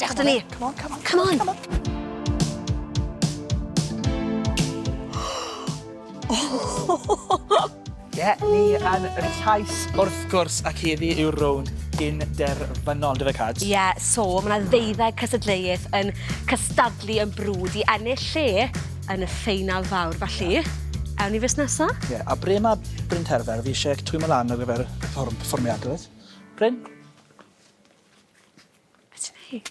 Dewch â ni. Come on, come on, come on, come on. Ie, ni yn y taith wrth gwrs ac heddi yw'r rownd gyn derfynol, dy fe Cad? Ie, yeah, so mae yna ddeuddeg cysadleuaeth yn cystadlu yn brwd i ennill lle yn y ffeinal fawr, felly... Yeah. Ewn ni fes nesa? Ie, yeah, a bre mae Bryn Terfer? Fi eisiau twymo lan ar gyfer y perfformiad, dweud. Bryn? Be' ti'n neud?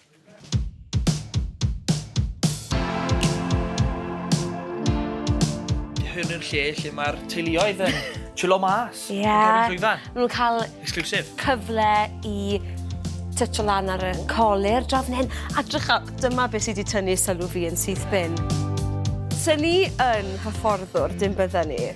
Hwn yw'r lle lle mae'r teuluoedd yn chillo mas. Ie. Yeah. Ma' nhw'n cael... Exclusive. ...cyfle i tytio lan ar y colir draw fan hyn. A drycha, dyma beth sydd wedi tynnu sylw fi yn syth bin. Sa ni yn hyfforddwr, dim bydden ni.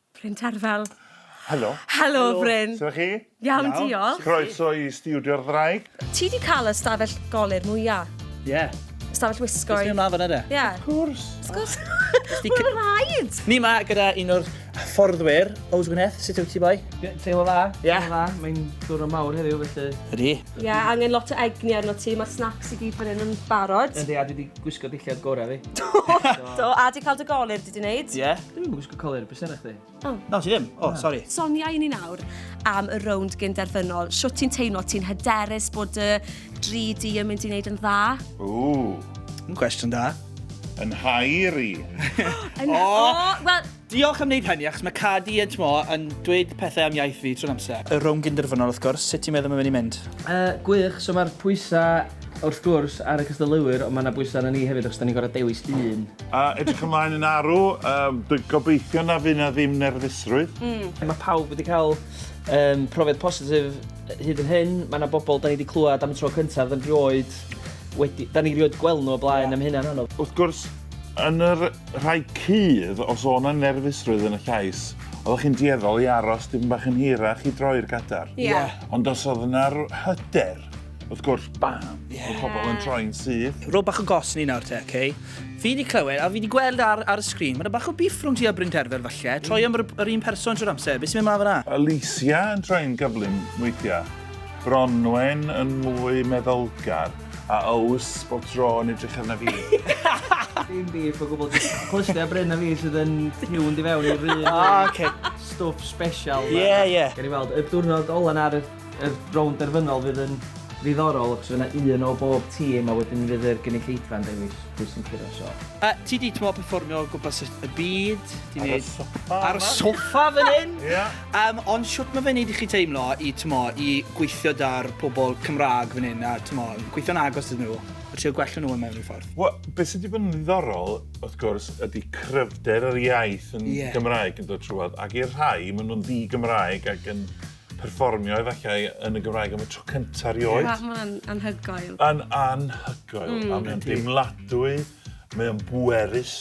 Bryn Terfel. Helo. Helo, Bryn. Sut chi? Iawn, diolch. Croeso i Studio'r Ddraig. Ti di cael y stafell golir mwya? Ie. Yeah. Stafell wisgo. Ysdi yma fan yna? Ie. Yeah. Of course. Of course. Mae'n rhaid. Ni yma gyda un o'r fforddwyr. Ows Gwyneth, sut yw ti boi? Teimlo dda. Ie. Yeah. Teimlo dda. Mae'n dwrno mawr heddiw felly. Ydy. Ie, yeah, angen lot o egni arno ti. Mae'r snacks i gyd fan hyn yn barod. Ydy, a dwi wedi gwisgo dillad gorau fi. Do, do. A di cael dy golir, di di wneud? Ie. Yeah. Colur, beth sy'n eich di? Oh. No, ti ddim. O, oh, sori. Sonia i ni nawr am y rownd gyn derfynol. Siwt ti'n teimlo? Ti'n hyderus bod y dri di yn mynd i wneud yn dda? Ww. Yn cwestiwn da. Yn hair i. yn... O! Oh, well... Diolch am wneud hynny, achos mae Cadi yn tmo yn dweud pethau am iaith fi trwy'n amser. Y rownd gyn derfynol, wrth gwrs. Sut ti'n meddwl mae'n mynd i mynd? Uh, gwych, so mae'r pwysau Wrth gwrs, ar y cystadleuwyr, ond mae yna bwysau arna ni hefyd achos da ni'n gorfod dewis un. A edrych ymlaen yn arw, um, dwi'n gobeithio na fydd na ddim nerfusrwydd. Mm. Mae pawb wedi cael um, profiad positif hyd yn hyn. Mae yna bobl da ni wedi clywed am y tro cyntaf, da ni rioed wedi... Da ni rioed gweld nhw o blaen yeah. am hynna'n anodd. Wrth gwrs, yn yr rhai cydd, os o'n yna nerfusrwydd yn y llais, oeddech chi'n dieddol i aros dim bach yn hirach i droi'r gadar. Ie. Yeah. Ond os oedd yna hyder, Wrth gwrs, bam! Yes. Mae pobl yn troi'n syth. Rho bach o gos ni nawr te, oce? Okay? Fi wedi clywed, a fi wedi gweld ar, ar y sgrin, mae'n bach o biff rhwng ti a Bryn Terfel falle. Troi am yr, yr un person trwy'r amser. Beth sy'n mynd mlaen fyna? Alicia yn troi'n gyflym weithiau. Bronwen yn mwy meddylgar. A Ows, bob tro yn edrych arna fi. Dim biff o gwbl. Clystiau Bryn a fi sydd yn tiwn di fewn i'r rhywun. Ah, oce. Stwff special. Ie, ie. Gan i weld, y diwrnod ola ar y Y rownd derfynol fydd yn ddiddorol achos fydd yna un o bob tîm a wedyn fydd yr gynulleidfa yn dewis pwy sy'n curo'r sioe. A ti di t'mo' perfformio o gwmpas y y byd, ti'n Ar y neud... soffa Ar y yma. soffa fan hyn! Ia. Yym ond shwt ma' fe'n neud i chi teimlo i t'mo' i gweithio 'da'r pobol Cymra'g fan 'yn a t'mo' yn gweithio'n agos iddyn nhw a trio gwella nhw yn mewn ryw ffordd? Wel, be' sy 'di bod yn ddiddorol, wrth gwrs, ydi cryfder yr iaith yn... Ie. ...Gymraeg yn dod trwodd, ac i'r rhai, ma' nhw'n ddi-Gymraeg ac yn perfformio efallai yn y Gymraeg am y tro cyntaf rioed. Mae hwnna'n anhygoel. Yn anhygoel, mm. a mae'n deimladwy, mae'n bwerus.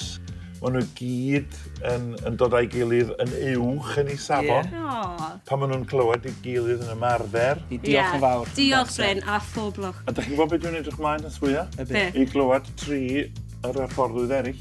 Maen nhw gyd yn, yn dod â'i gilydd yn uwch yn ei safon. Yeah. Pan maen nhw'n clywed ei gilydd yn ymarfer. I diolch yeah. yn fawr. Diolch, Bryn, a phob lwch. A da chi'n gwybod beth dwi'n edrych mlaen at fwyaf? Be? I glywed tri yr hyfforddwydd eraill.